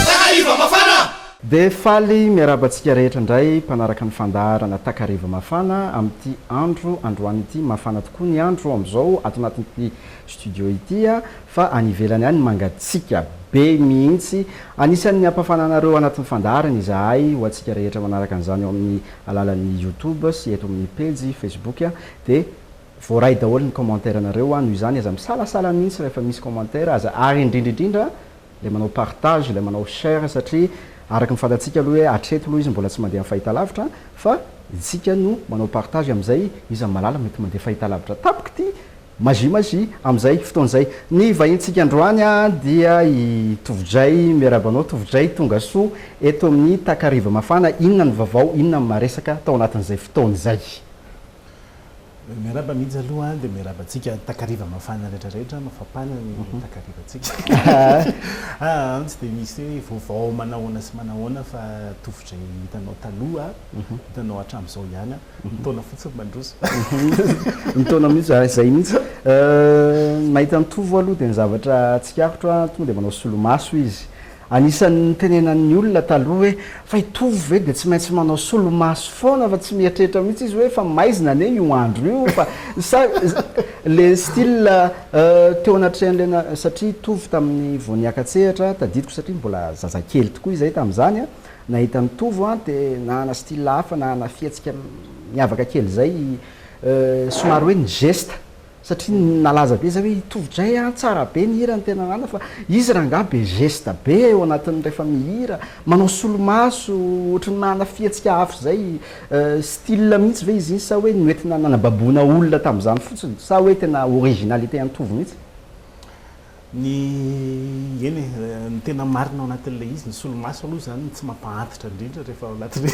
Takariva Mafana! Dia faly miarahaba antsika rehetra indray mpanaraka ny fandaharana Takariva Mafana amin'ity andro androany ity. Mafana tokoa ny andro amin'izao ato anatin'ity studio ity fa any ivelany any mangatsiaka be mihitsy. Anisan'ny hampafana anareo anatin'ny fandaharana izahay ho antsika rehetra manaraka an'izany ao amin'ny alalan'ny Youtube sy eto amin'ny pejy Facebook dia Voaray daholo ny commentaire nareo hoa noho izany aza misalasala mihitsy rehefa misy commentaire aza ary indrindra indrindra ilay manao partage ilay manao share satria araka ny fantatsika aloha hoe hatreto aloha izy mbola tsy mandeha amin'ny fahitalavitra fa isika no manao partage amin'izay izy amin'ny malala mety mandeha fahitalavitra tampoka ity magie magie amin'izay fotoana izay ny vahintsika androany an dia i Tovojay miarahaba anao Tovojay tongasoa eto amin'ny takariva mafana inona ny vavao inona ny maresaka tao anatin'izay fotoana izay. Miarahaba mihitsy aloha dia miarahaba antsika takariva mafana rehetra rehetra mafapana ny mhm. takariva antsika ah, tsy dia misy hoe vaovao manahoana sy manahoana fa tovozay hitanao taloha mhm. hitanao hatramin'izao ihany a mhm. ny taona fotsiny mandroso ny taona mihitsy ah, izay mihitsy euh, nahita ny tovo aloha dia ny zavatra tsikarotro a tonga dia manao solomaso izy Anisan'ny nitenenan'ny olona taloha hoe, fa i Tovo ve dia tsy maintsy manao solomaso foana fa tsy mieritreritra mihitsy izy hoe fa maizina anie io andro io fa sa le style teo anatrehan'ilay na satria i Tovo tamin'ny vao niaka-tsehatra tadidiko satria mbola zazakely tokoa izahay tamin'izany a, nahita an'i Tovo a dia nanana style hafa, nanana fihetsika miavaka kely izay i somary hoe ny geste. satria nalaza be zay hoe hitovy dray an, tsara be ny hira ny tena anana fa izy rangaha be geste be eo anatiny refa mihira, manao solomaso ohatry ny manana fihetsika hafa zay, style mihitsy ve izy iny sa hoe noentina nanababoina olona tamzany fotsiny sa hoe tena originalité antovo mihitsy? Ny, eny e, ny tena marina ao anatin'ilay izy, ny solomaso aloha izany no tsy mampahantitra indrindra rehefa ao anatin'ny,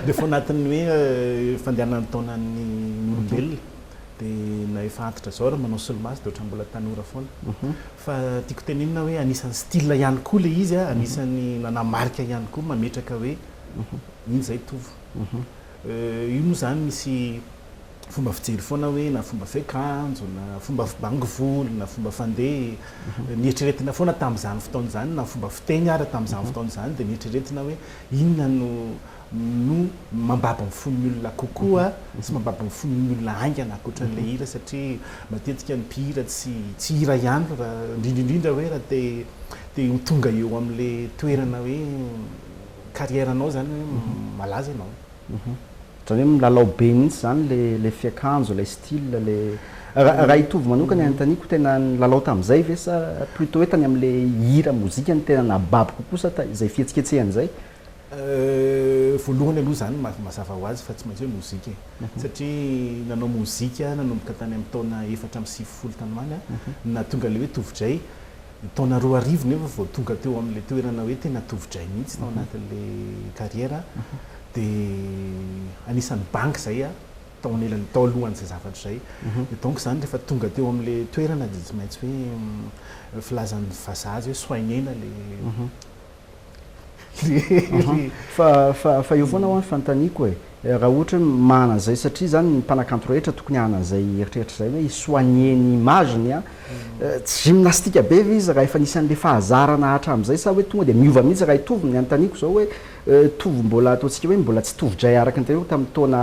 rehefa ao anatin'ny hoe fandehanan'ny taonan'ny olombelona dia na efa antitra izao ary manao solomaso dia ohatran'ny mbola tanora foana. Fa tiako tenenina hoe anisan'ny style ihany koa ilay izy, anisan'ny nanamarika ihany koa mametraka hoe iny izay tovo. Io moa izany misy. Fomba fijery foana hoe na fomba fiakanjo na fomba fibango volo na fomba fandeha, nieritreretina foana tamin'izany fotoana izany na fomba fiteny ary tamin'izany fotoana izany dia nieritreretina hoe inona no no mambabo ny fon'ny olona kokoa sy mambabo ny fon'ny olona haingana ankoatran'ilay hira satria matetika ny mpihira tsy tsy hira ihany fa indrindra indrindra hoe raha te te ho tonga eo amin'ilay toerana hoe carrière-nao izany hoe malaza ianao. Ohatran'ny hoe milalao be mihitsy izany ilay fiakanjo, ilay style, ilay. Raha hitovy manokana anontaniako, tena nilalao tamin'izay ve sa plutôt hoe tany amin'ilay hira, mozika no tena nahababo kokoa sa izay fihetsiketsehana izay? Voalohany aloha izany mazava ho azy fa tsy maintsy hoe mozika e. Satria nanao mozika aho nanomboka tany amin'ny taona efatra amby sivifolo tany ho any, nahatonga ilay hoe tovo-dray. Ny taona roa arivo nefa vao tonga teo amin'ilay toerana hoe tena tovo-dray mihitsy tao anatin'ilay carrière aho. Dia anisan'ny bangy izay aho, tao anilany, tao alohan'izay zavatra izay. Dia donc izany rehefa tonga teo amin'ilay toerana dia tsy maintsy hoe filazan'ny vazaha azy hoe soigner-na ilay Fa eo foana ho'a ny fanontaniako e, raha ohatra hoe manana an'izay, satria izany ny mpanakanto rehetra tokony hanana an'izay eritreritra izay hoe hi-soigner ny image-ny an, tsy gymnastique be ve izy raha efa nisy an'ilay fahazarana hatramin'izay sa hoe tonga dia miova mihitsy raha hitovy? Ny anontaniako izao hoe tovo mbola ataontsika hoe mbola tsy tovo-dray araka ny tenenao tamin'ny taona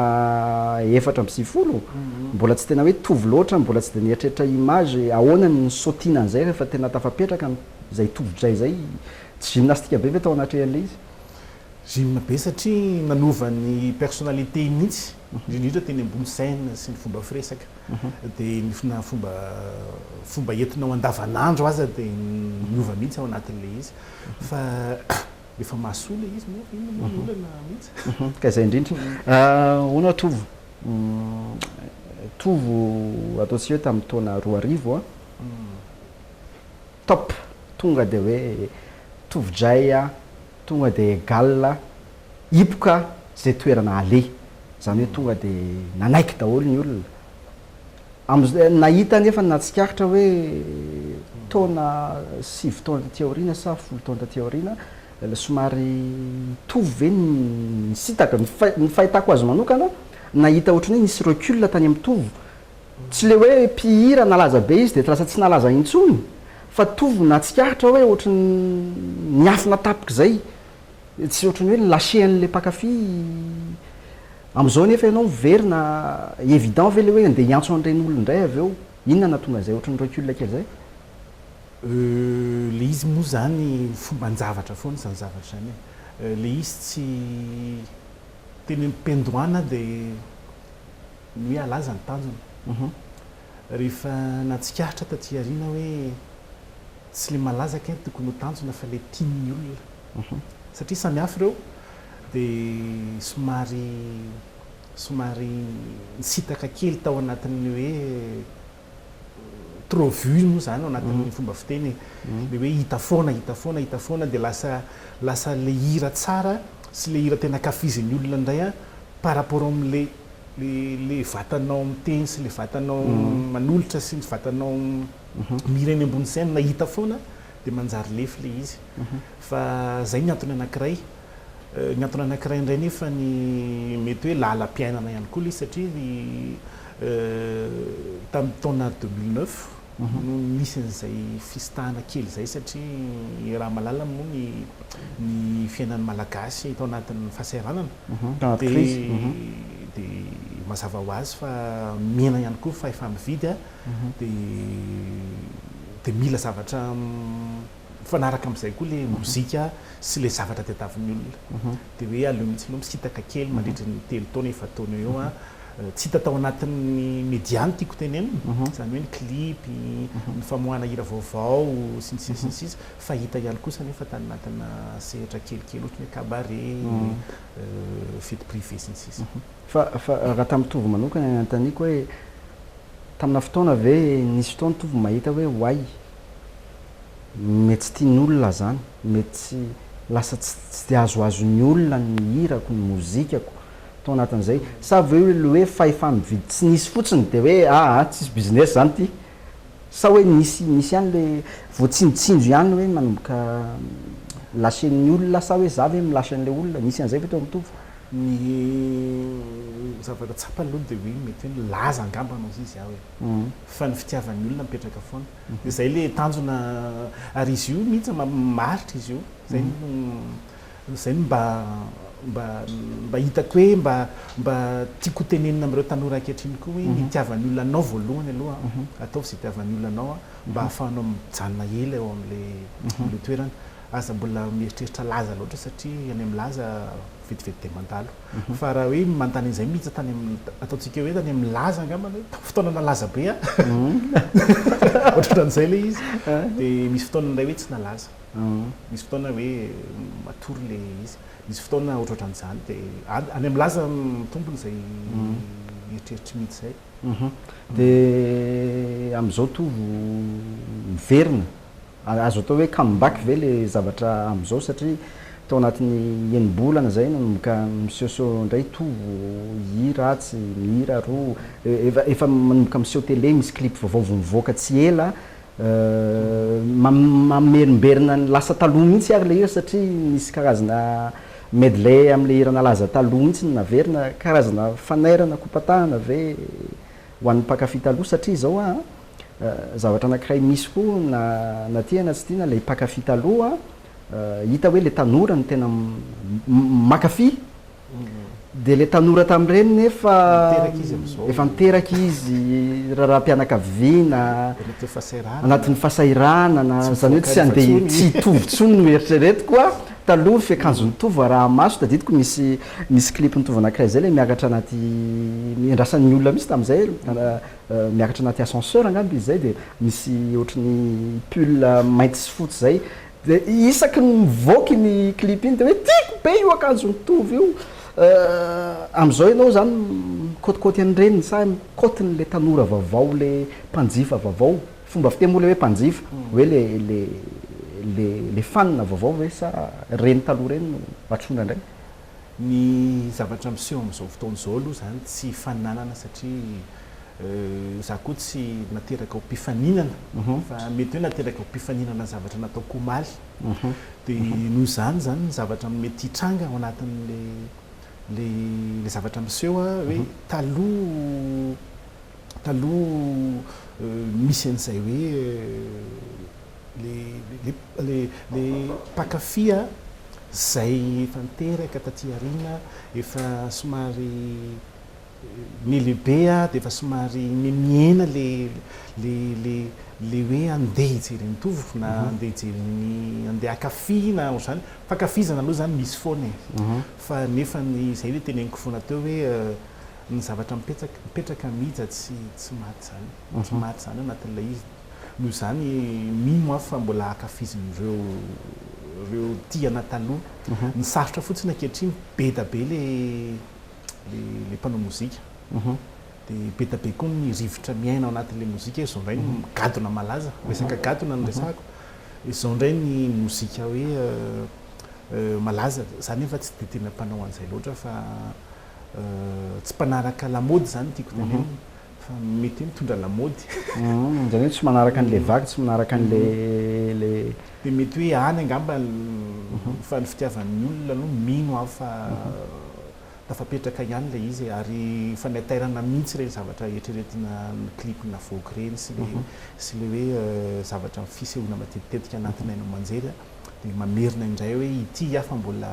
efatra amby sivifolo? Mbola tsy tena hoe tovo loatra, mbola tsy dia nieritreritra image, ahoana ny nisaotiana an'izay rehefa tena tafapetraka ny. izay tovidray izay, tsy gymnastique be ve tao anatrehan'ilay izy? Gym be satria nanova ny personnalité-ny mihitsy, indrindra indrindra teny ambony scène sy ny fomba firesaka, dia ny na fomba fomba entinao andavanandro aza dia niova mihitsy ao anatin'ilay izy fa efa mahasoa ilay izy moa inona moa ny olana mihitsy? Ka izay indrindra. Ahoana Tovo? Tovo ataontsika hoe tamin'ny taona roa arivo an! Top tonga de hoe tovojay a, tonga de egal a, hipoka ze toerana aleha, zany hoe tonga de nanaiky daholo ny olona, amzay nahita anefa ny nahatsikaritra hoe taona sivy taona taty aoriana sa folo taona taty aoriana somary nitovy ve ny nisintaka, ny fahitako azy manokana nahita ohatran'ny hoe nisy recul tany amin'ny tovo Tsy le hoe mpihira nalaza be izy de lasa tsy nalaza intsony fa tovo natsikaritra hoe ohatry ny niafina tapika zay tsy ohatry ny hoe lâcher anle mpakafy amzao nefa ianao miverina evident ve le hoe nde hiantso anreny olona ndray avy eo inona natonga zay ohatry ny recul kely zay? Euh le izy moa zany fomban-javatra foana zany zavatra zany e! le izy tsy teny am-piandohana de. ny hoe halaza ny tanjona. Rehefa natsikaritra taty aoriana hoe tsy ilay malaza kay no tokony ho tanjona fa ilay tian'ny olona. Satria samy hafa ireo dia somary somary nisitaka kely tao anatin'ny hoe trop vue moa zany ao anatin'ny fomba fiteny e, le hoe hita foana, hita foana, hita foana dia lasa lasa le hira tsara sy le hira tena ankafizin'ny olona indray an par rapport amin'le le le vatanao miteny sy le vatanao manolotra sy ny vatanao mihira eny ambony scène hita foana dia manjary lefy le izy fa zay ny antony anankiray. Ny antony anankiray indray nefa ny mety hoe lalam-piainana ihany koa ilay izy satria ry tamin'ny taona deux mille neuf no nisy an'izay fisintahana kely izay satria i Ramalala moa ny ny fiainan'ny Malagasy tao anatin'ny fahasahiranana dia dia mazava ho azy fa mihena ihany koa ny fahefa-mividy dia dia mila zavatra Mifanaraka amin'izay koa ilay mozika sy ilay zavatra tadiavin'ny olona. Dia hoe aleo mihitsy aloha misintaka kely mandritra ny telo taona, efa-taona eo eo. Tsy hita tao anatin'ny media ny tiako tenenina, izany hoe ny clip, ny famoahana hira vaovao, sy ny sisa sy ny sisa. Fa hita ihany kosa anefa tany anatinà sehatra kelikely, ohatran'ny hoe cabaret, fety privée, sy ny sisa. Fa fa raha tamin'i Tovo manokana ny anontaniako hoe, taminà fotoana ve nisy fotoana Tovo mahita hoe oay, mety tsy tian'ny olona zany, mety tsy, lasa tsy tsy de azoazon'ny olona ny hirako, ny mozikako tao anatin'izay, sa ve le hoe fahefa-mividy tsy nisy fotsiny de hoe aa tsisy business zany ty, sa hoe nisy nisy ihany le voatsinjotsinjo ihany hoe manomboka lasen'ny olona sa hoe za ve milasa an'ilay olona, nisy an'izay ve teo amin'ny tovo? Ny zavatra tsapany aloha de hoe mety hoe nilaza angambany hozizy aho hoe. fa ny fitiavan'ny olona mipetraka foana dia zay le tanjona ary izy io mihitsy maharitra izy io zay no zay no mba mba mba hitako hoe mba mba tiako tenenina amin'ireo tanora ankehitriny koa hoe ny itiavan'ny olona anao voalohany aloha ataovy zay itiavan'ny olona anao mba ahafahanao mijanona ela eo amin'le amin'le toerana aza mbola mieritreritra laza loatra satria any amin'ny laza vetivety dia mandalo fa raha hoe manontany an'izay mihitsy tany amin'ny ataontsika hoe tany amin'ny laza angambany hoe tamin'ny fotoana nalaza be aho ohatran'izay ilay izy dia misy fotoana indray hoe tsy nalaza misy fotoana hoe matory ilay izy misy fotoana ohatrohatran'izany dia any amin'ny laza mitombona izay eritreritry mihitsy izay dia amin'izao tovo miverina Azo atao hoe come back ve le zavatra amzao satria tao anatin'ny enimbolana zay nanomboka miseho seho ndray tovo hira atsy mihira aroa efa efa manomboka miseho tele misy clip vaovao vo mivoaka tsy ela mamerimberina ny lasa taloha mihitsy ary le hira satria nisy karazana medley amle hira nalaza taloha mihitsy no naverina karazana fanairana kopatahana ve ho an'ny mpankafy taloha satria zao aa. zavatra anakiray misy koa na na tia na tsy tia na le mpankafy taloha hita hoe le tanora no tena mankafy de le tanora tamin'ireny nefa efa niteraka izy raharaham-pianakaviana anatin'ny fahasahiranana zany hoe tsy andeha tsy hitovy tsony no eritreretiko a taloha fiakanjo mitovy araha maso tadidiko misy misy clip mitovy anakiray zay le miakatra anaty miandrasan'ny olona misy tamin'izay miakatra anaty ascenseur angamba izy zay de misy ohatry ny pull mainty sy fotsy zay de isaky ny mivoaka iny clip iny de hoe tiako be io akanjo mitovy io amizao ianao zany mikotikoty an'ireny sa mikotiny le tanora vaovao le mpanjifa vaovao fomba fiteny moa le hoe mpanjifa hoe le le le le fanina vaovao ve sa reny taloha reny no atrona indray Ny zavatra miseho amin'izao fotoana izao aloha izany tsy hifaninanana satria izaho koa tsy nateraka ho mpifaninana fa mety hoe nateraka ho mpifaninana ny zavatra nataoko omaly. Dia noho izany izany ny zavatra mety hitranga ao anatin'ilay ilay zavatra miseho hoe taloha taloha misy an'izay hoe Le le le le mpankafy a zay efa niteraka taty aoriana efa somary ny lehibe a de efa somary mihena le le le le hoe andeha hijery an'i Tovo na andeha hijery an'i andeha hankafy na ohatr'izany, fankafizana aloha zany misy foana e fa nefa ny zay le teneniko foana teo hoe ny zavatra mipetraka mipetraka mija tsy tsy maty zany tsy maty zany anatin'ilay izy. Noho izany, mino aho fa mbola ankafizin'ireo ireo tiana taloha. Ny sarotra fotsiny ankehitriny, be da be le le le mpanao mozika. Dia be da be koa ny rivotra miaina ao anatin'ilay mozika. Izao indray ny gadona malaza, resaka gadona no resahako. Izao indray ny mozika hoe malaza, za nefa tsy dia tena mpanao an'izay loatra fa tsy mpanaraka lamaody izany no tiako tenenina. Fa mety hoe mitondra lamaody. Uhm, izany hoe tsy manaraka an'ilay vaky, tsy manaraka an'ilay. Dia mety hoe any angamba ny fa ny fitiavan'ny olona aloha mino aho fa tafapetraka ihany ilay izy e, ary efa netairana mihitsy ireny zavatra eritreretina ny clip navoaka ireny sy ilay sy ilay hoe zavatra fisehoana matetitetika anatin'ny haino aman-jery dia mamerina indray hoe ity aho fa mbola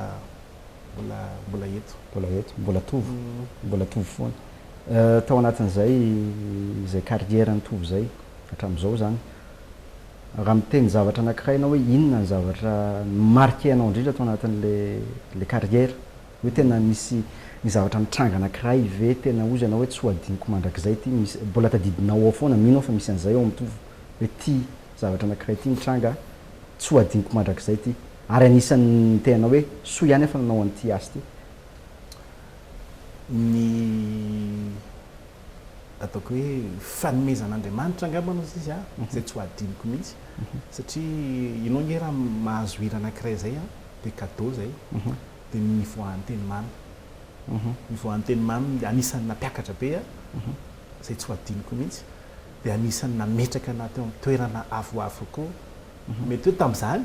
mbola mbola eto. Mbola eto, mbola tovo, mbola tovo foana. Tao anatin'izay izay carrière-n'i Tovo izay, hatramin'izao izany, raha miteny zavatra anankiray ianao hoe inona ny zavatra ni-marquer anao indrindra tao anatin'ilay carrière, hoe tena nisy nisy zavatra nitranga anankiray ve tena hozy ianao hoe tsy ho adinoko mandrakizay ity, misy mbola tadidinao ao foana, mino aho fa misy an'izay ao amin'i Tovo, hoe ity zavatra anankiray ity nitranga tsy ho adinoko mandrakizay ity. Ary anisan'ny niteny anao hoe soa ihany aho fa nanao an'ity azy ity. Ny ataoko hoe fanomezan'Andriamanitra angamba no izy an, izay tsy ho adinoko mihitsy satria ianao ange raha mahazo hira anankiray izay an, dia cadeau izay, dia ny nivoahan'ny teny mamy. Nivoahan'ny teny mamy dia anisan'ny nampiakatra be ahy, izay tsy ho adinoko mihitsy, dia anisan'ny nametraka anah teo amin'ny toerana avoavo kokoa. Mety hoe tamin'izany,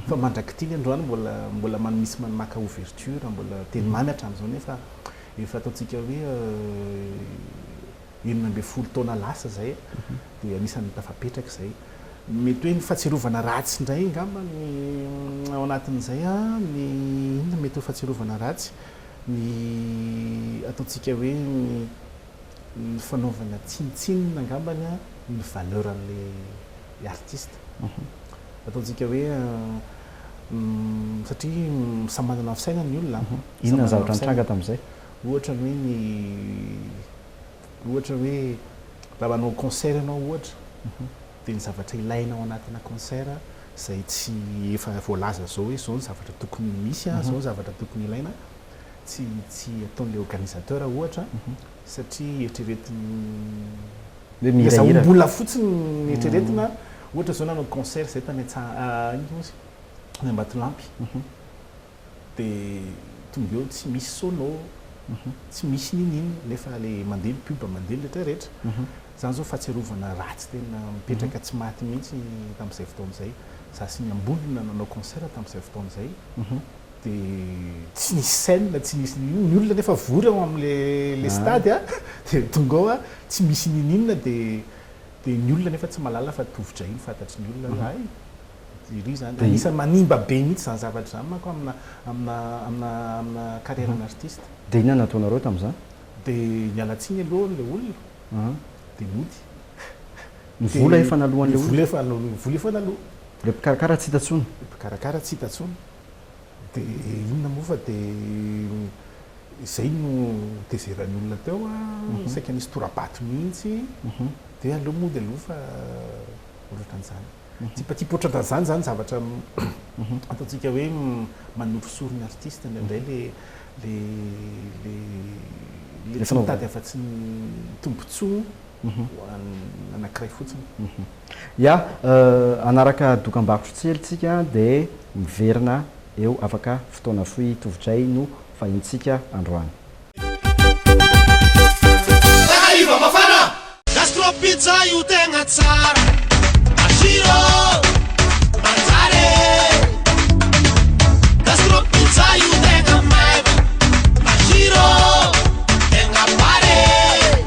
fa mandrak'ity ny androany mbola mbola man misy man maka ouverture, mbola teny mamy hatramin'izao nefa efa ataontsika hoe enina ambin'ny folo taona lasa izay dia anisan'ny tafapetraka izay. Mety hoe ny fahatsiarovana ratsy indray angamba ny ao anatin'izay ny inona mety ho fahatsiarovana ratsy ny ataontsika hoe ny ny fanaovana tsinontsinona angambany a ny valeur an'ilay artiste ataontsika hoe satria samy manana ny fisainany ny olona a, Inona ny zavatra nitranga tamin'izay? ohatra ny hoe ny ohatra hoe raha manao concert ianao ohatra dia ny zavatra ilaina ao anatina concert izay tsy efa voalaza izao hoe izao ny zavatra tokony misy a, izao ny zavatra tokony ilaina, tsy tsy ataon'ilay organisateur ohatra satria eritreretiny Hoe mihirahira. Azahoam-bola fotsiny ny eritreretina ohatra izao nanao concert izahay tany Antsa- inona moa izy io? tany Ambatolampy dia tonga eo tsy misy sono tsy misy n'inon'inona nefa ilay mandeha ny pub mandeha ny rehetra rehetra izany izao fahatsiarovana ratsy tena mipetraka tsy maty mihitsy tamin'izay fotoana izay izaho sy ny Ambolona nanao concert tamin'izay fotoana izay dia tsy nisy scène tsy nisy n'inon'inona, ny olona nefa vory ao amin'le le stade a, dia tonga ao a, tsy misy n'inon'inona dia dia ny olona nefa tsy mahalala fa tovo-drahiny fantatry ny olona hay iry zany, anisan'ny manimba be mihitsy zany zavatra zany manko amina amina amina amina carrière an'artiste. Dia inona no nataonareo tamin'izany? Dia niala tsiny aloha ilay olona dia nody. Ny vola efa naloan'ilay olona. Ny vola efa naloa, ny vola efa naloa. Ilay mpikarakara tsy hita intsony. Ilay mpikarakara tsy hita intsony. Dia inona moa fa dia izay no notezeran'ny olona teo a, saika nisy tora-bato mihitsy. Dia aleo moa dia aleo fa ohatran'izany. Tsipatsipa ohatran'izany izany zavatra ataontsika hoe manorisory ny artista indraindray ilay ilay ilay tsy mitady afa-tsy ny tombontsoa. ho an'ny anankiray fotsiny. Ya, hanaraka dokam-barotra tsy ela tsika dia miverina eo afaka fotoana fohy tovotray no fahintsika androany. Takariva mafana! Gastro pizza io tegna tsara Masiro manjary e Gastro pizza io tegna maivagna Masiro tegna pare e.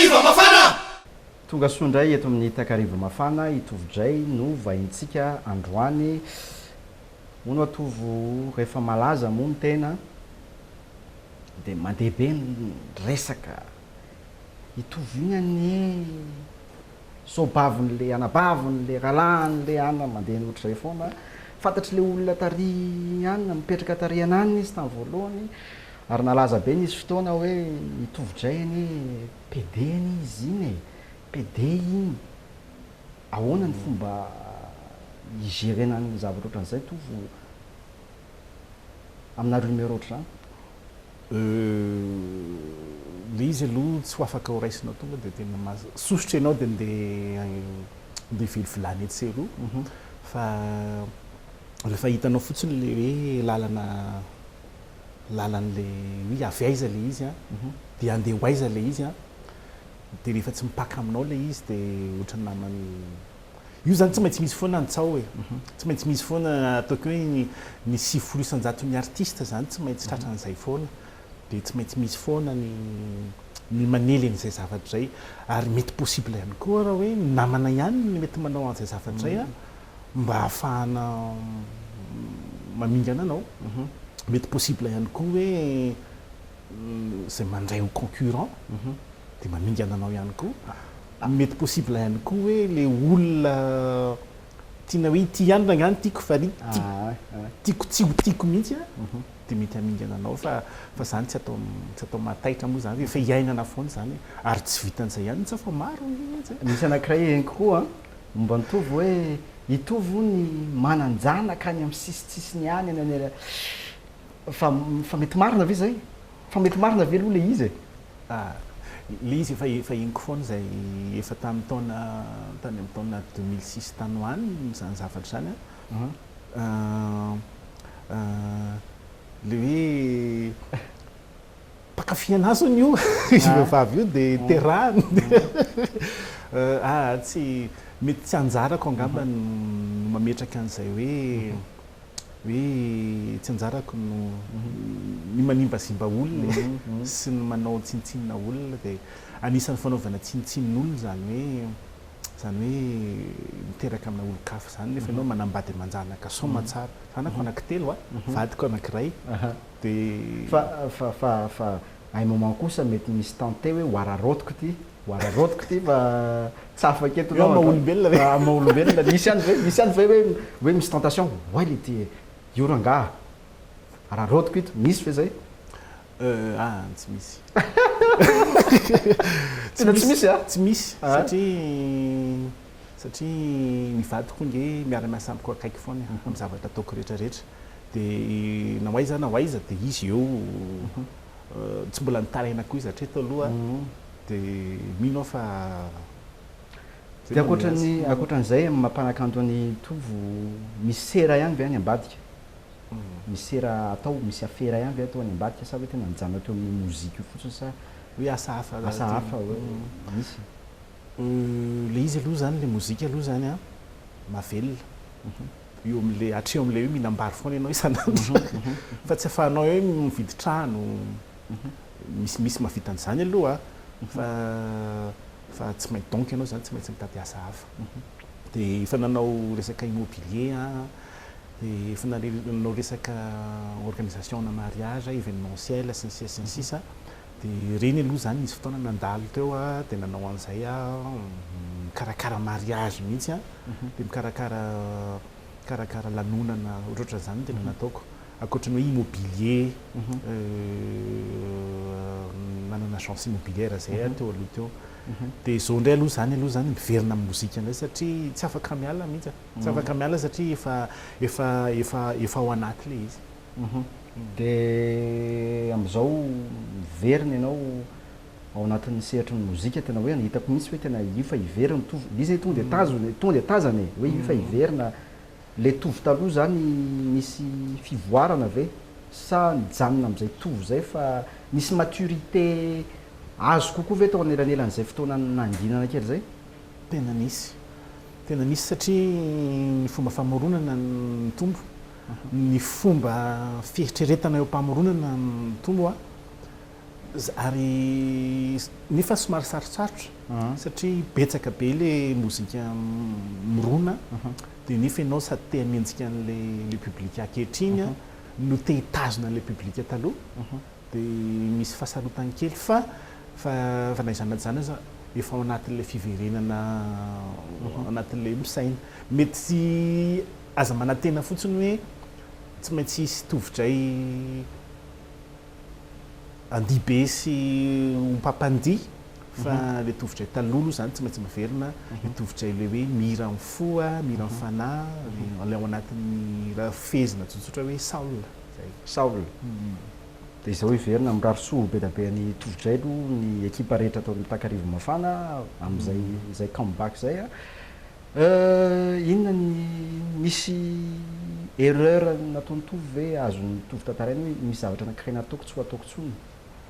Takariva mafana! Tonga soa indray eto amin'ny Takariva mafana i Tovo Jay no vahintsika androany. Hono wa Tovo rehefa malaza moa ny tena dia mandeha be ny resaka. I Tovo iny anie soabavin'ilay anabaviny, le rahalahiny, le anany mandeha ny ohatr'izay foana. Fantatr'ilay olona tary any, mipetraka tary an'any izy tamin'ny voalohany. Ary nalaza be nisy fotoana hoe i Tovo-dray anie pede anie izy iny e! Pede iny! Ahoana ny fomba hi-gérer-na ny zavatra ohatran'izay Tovo amina rumeur ohatr'izany? Euh, le izy aloha tsy ho afaka ho raisina tonga dia tena maza, sosotra ianao dia ndeha ndeha hivily vilany etsy sy eroa fa rehefa hitanao fotsiny ilay hoe lalana lalan' le hoe avy aiza le izy an, dia andeha ho aiza le izy an, dia rehefa tsy mipaka aminao le izy dia ohatran'ny naman'ny io zany tsy maintsy misy foana ny tsaho e, tsy maintsy misy foana ataoko hoe ny ny sivifolo isan-jaton' ny artista zany tsy maintsy tratra an'izay foana, dia tsy maintsy misy foana ny ny manely an'izay zavatra izay, ary mety possible ihany koa raha hoe ny namana ihany no mety manao an'izay zavatra izay an. mba ahafahana mamingana anao. Mety possible ihany koa hoe izay mandray ho concurrent dia mamingana anao ihany koa. Mety possible ihany koa hoe ilay olona tiana hoe ity ihany rangah no tiako fa tiako tsy ho tiako mihitsy dia mety hamingana anao fa izany tsy atao tsy atao mahataitra moa izany, efa iainana foana izany ary tsy vitan'izay ihany mihitsy aho fa maro mihitsy. Misy anankiray henoko koa an! Momba ny Tovo hoe i Tovo hono manan-janaka any amin'ny sisintsisiny any any any fa fa mety marina ve zay? Fa mety marina ve aloha le izy e? Ah, le izy efa efa henoko foana izay efa tamin'ny taona tany amin'ny taona deux mille six tany ho any izany zavatra izany a. Ah, ah, le hoe Mpankafy an'ahy zany io izy vehivavy io dia terahany dia ah tsy mety tsy anjarako angamba no mametraka an'izay hoe hoe tsy anjarako no ny manimbazimba olona sy ny manao tsinontsinona olona dia anisan'ny fanaovana tsinontsinon'olona izany hoe izany hoe miteraka amina olon-kafa izany nefa ianao manambady aman-janaka soa aman-tsara zanako anankitelo a vadiko anankiray Dia. Fa fa un moment kosa mety misy tenter hoe ho araraotiko ity, ho araraotiko ity fa tsy afaka eto ianao. Eo amin'ny maha olombelona ve? Amin'ny maha olombelona. Misy ihany ve, misy ihany ve hoe hoe misy tentation oay le ty e, io rangaha araraotiko ito, misy ve zay? Euh ah, tsy misy. Tena tsy misy an? Tsy misy satria. satria ny vadiko ange miara miasa amiko akaiky foana amin'ny zavatra ataoko rehetra rehetra de na ho aiza na ho aiza de izy eo tsy mbola nitaraina koa izy hatreto aloha de mino aho fa de ankoatran'ny ankoatran'izay amin'ny maha mpanakanto an'i Tovo misy sera ihany ve any ambadika? misy sera atao misy afera ihany ve atao any ambadika sa hoe tena mijanona teo amin'ny mozika io fotsiny sa hoe asa hafa asa hafa hoe misy? Le izy aloha zany le mozika aloha zany an mavelona eo amle hatreo amle hoe mihinam-bary foana ianao isan'andro fa tsy afahanao hoe mividy trano misy misy mahavita an'izany aloha fa fa tsy maintsy donc ianao zany tsy maintsy mitady asa hafa de efa nanao resaka immobilier an de efa nanao resaka organisation ana mariage événementiel sy ny sisa sy ny sisa Dia ireny aloha izany nisy fotoana nandalo teo aho dia nanao an'izay aho, mikarakara mariage mihitsy an, dia mikarakara mikarakara lanonana ohatrohatran'izany no tena nataoko. Ankoatra ny hoe immobilier, nanana agence immobilière izay aho teo aloha teo. Dia izao indray aloha izany aloha izany miverina amin'ny mozika indray satria tsy afaka miala mihitsy aho, tsy afaka miala satria efa efa efa efa ao anaty ilay izy. Dia amin'izao miverina ianao ao anatin'ny sehatry ny mozika, tena hoe hitako mihitsy hoe tena io fa hiverina ny tovo, ilay izy tonga dia tazona e, tonga dia tazana e, hoe io fa hiverina, ilay tovo taloha izany nisy fivoarana ve sa nijanona amin'izay tovo izay fa nisy maturité azo kokoa ve tao anelanelan'izay fotoana nanginana kely izay? Tena misy, tena misy satria ny fomba famoronana no mitombo, ny fomba fieritreretana eo am-pamoronana mitombo a ary nefa somary sarotsarotra satria betsaka be le mozika mirona dia nefa ianao sady te haminjika an'le le public ankehitriny no te hitazona an'le public taloha dia misy fahasarotany kely fa fa fa na izany na izany aza efa ao anatin'le fiverenana ao anatin'le misaina mety Aza manantena fotsiny hoe tsy maintsy hisy tovidray andihibe sy ompam-pandihy fa ilay tovidray taloha aloha izany tsy maintsy miverina, ilay tovidray ilay hoe mihira amin'ny fo, mihira amin'ny fanahy, ilay ao anatin'ny raha fehezina tsotsotra hoe Saul izay. Saul. Dia izao hiverina, mirary soa be dia be an'i tovidray aloha ny ekipa rehetra ato amin'ny Takarivo Mafana amin'izay come back izay. Euh inona ny misy erreur nataon'i Tovo ve azon'i Tovo tantaraina hoe misy zavatra anankiray nataoko tsy ho ataoko intsony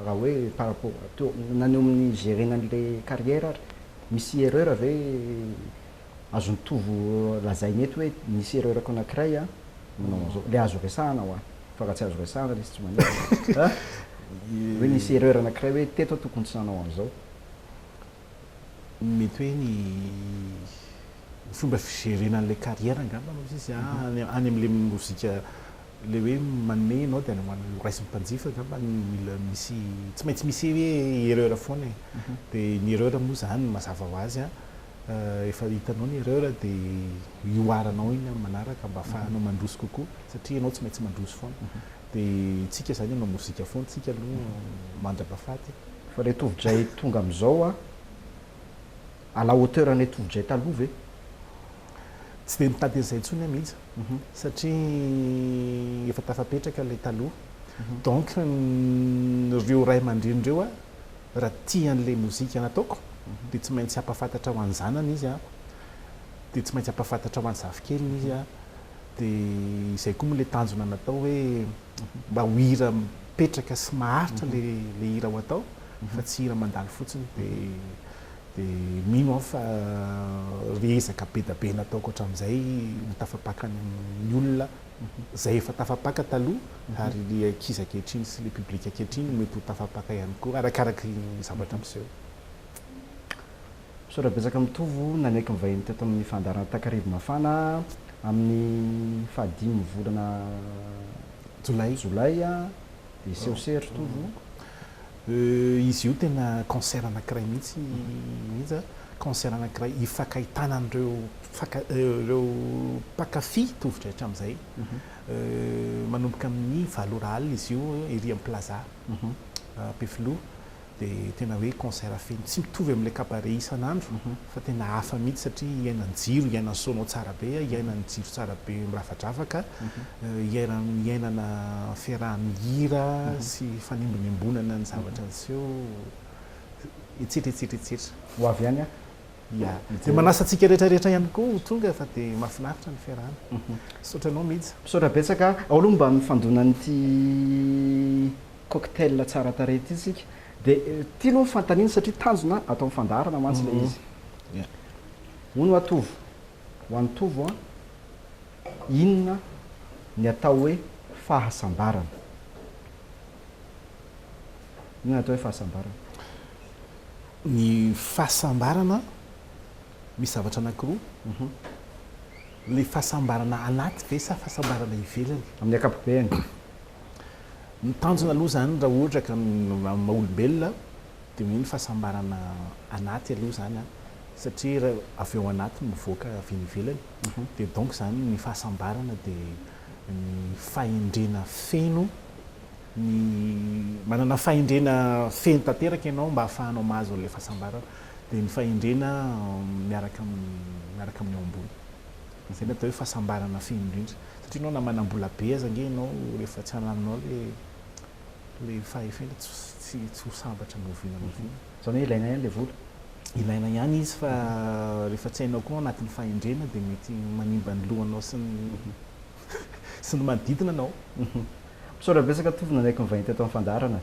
raha hoe par rapport teo na ny eo amin'ny gerer-na an'ilay carrière ary misy erreur ve azon'i Tovo lazaina eto hoe nisy erreur-ko anankiray an manao an'izao ilay azo resahana hoa fa raha tsy azo resahana ilay izy tsy maninona an hoe nisy erreur anankiray hoe teto aho tokony tsy nanao an'izao Mety hoe ny fomba fijerena an'ilay carrière angamba no izy a, any any amin'ilay mozika ilay hoe manome ianao dia any ho any horaisin'ny mpanjifa angamba no mila misy tsy maintsy misy hoe erreur foana e. Dia ny erreur moa izany mazava ho azy a, rehefa hitanao ny erreur dia ihoaranao iny amin'ny manaraka mba ahafahanao mandroso kokoa satria ianao tsy maintsy mandroso foana. De tsika zany hanao mozika foana tsika aloha mandrapa faty. Fa le tovidray tonga amizao a à la hauteur anle tovidray taloha ve? Tsy dia mitady an'izay intsony aho mihitsy satria efa tafapetraka ilay taloha. Donc ireo ray aman-dreny ireo a, raha tia an'ilay mozika nataoko dia tsy maintsy hampahafantatra ho an'ny zanany izy a, dia tsy maintsy hampahafantatra ho an'ny zafikeliny izy a. Dia izay koa moa ilay tanjona natao hoe mba ho hira mipetraka sy maharitra ilay hira ho atao fa tsy hira mandalo fotsiny. Dia mino aho fa ireo ezaka be dia be nataoko hatramin'izay no tafapakan'ny olona izay efa tafapaka taloha ary ilay ankizy ankehitriny sy ilay public ankehitriny mety ho tafapaka ihany koa arakaraka ny zavatra miseho. Misaotra betsaka Mitovo nanaiky mivahiny teto amin'ny fandaharana Takarivo Mafana amin'ny faha dimy volana jolay jolay dia hiseho se ry Tovo o. Izy io tena concert anankiray mihitsy mihitsy a, concert anankiray ifankahitana an'ireo mpanka- ireo mpankafy tovo-drahitra amin'izay. Manomboka amin'ny valo ora alina izy io ery amin'ny Plaza Ampefiloha. Dia tena hoe concert feno, tsy mitovy amin'ilay cabaret isan'andro fa tena hafa mihitsy satria hiainan jiro, hiainan sono ao tsara be, hiainan jiro tsara be miravadravaka, hiainan hiainana fiarahan hira sy fanembonembonana ny zavatra niseho, etsetra etsetra etsetra. Ho avy any aho. Ya. Dia manasa antsika rehetra rehetra ihany koa ho tonga fa dia mahafinaritra ny fiarahana. Misaotra anao Mija. Misaotra betsaka. Ao aloha mba ny fandonan'ity. Cocktail tsara tarehy ity isika dia tiany hono fantanina satria tanjona atao amin'ny fandaharana mantsy ilay izy. Hono hoa Tovo, ho an'i Tovo an, inona ny atao hoe fahasambarana? Inona ny atao hoe fahasambarana? Ny fahasambarana, misy zavatra anankiroa, ilay fahasambarana anaty ve sa fahasambarana ivelany? Amin'ny ankapobeny. Ny tanjona aloha izany raha ohatra ka amin'ny maha olombelona dia hoe ny fahasambarana anaty aloha izany satria avy ao anaty no mivoaka avy eny ivelany dia donc izany ny fahasambarana dia ny fahendrena feno ny manana fahendrena feno tanteraka ianao mba hahafahanao mahazo an'ilay fahasambarana dia ny fahendrena miaraka amin'ny miaraka amin'ny eo ambony. Izay no atao hoe fahasambarana feno indrindra. Satria ianao na manam-bola be aza ange ianao rehefa tsy halalinao ilay ilay fahefena dia tsy tsy tsy ho sambatra ny oviana na oviana. Izany hoe ilaina ihany ilay vola? Ilaina ihany izy fa rehefa tsy hainao koa anatin'ny fahendrena dia mety manimba ny lohanao sy ny sy ny manodidina anao. Misaotra betsaka Tovo nanaiky nivahiny teto amin'ny fandaharana.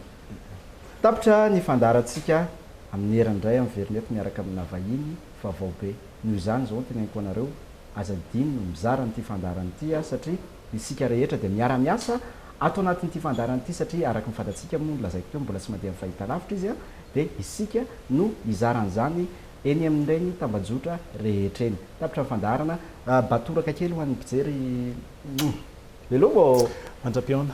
Tapitra ny fandaharantsika amin'ny herany indray amin'ny Vernet miaraka amina vahiny vaovao be. Noho izany izao no teneniko anareo, aza adino ny mizara an'ity fandaharana ity a, satria isika rehetra dia miara-miasa ato anatin'ity fandaharana ity, satria araka ny fantatsika moa nolazaiko teo mbola tsy mandeha amin'ny fahitalavitra izy a, dia isika no hizara an'izany eny amin'ireny tambajotra rehetra eny. Tapitra ny fandaharana, batoraka kely ho an'ny mpijery Hello ô! Mandra-pihaona.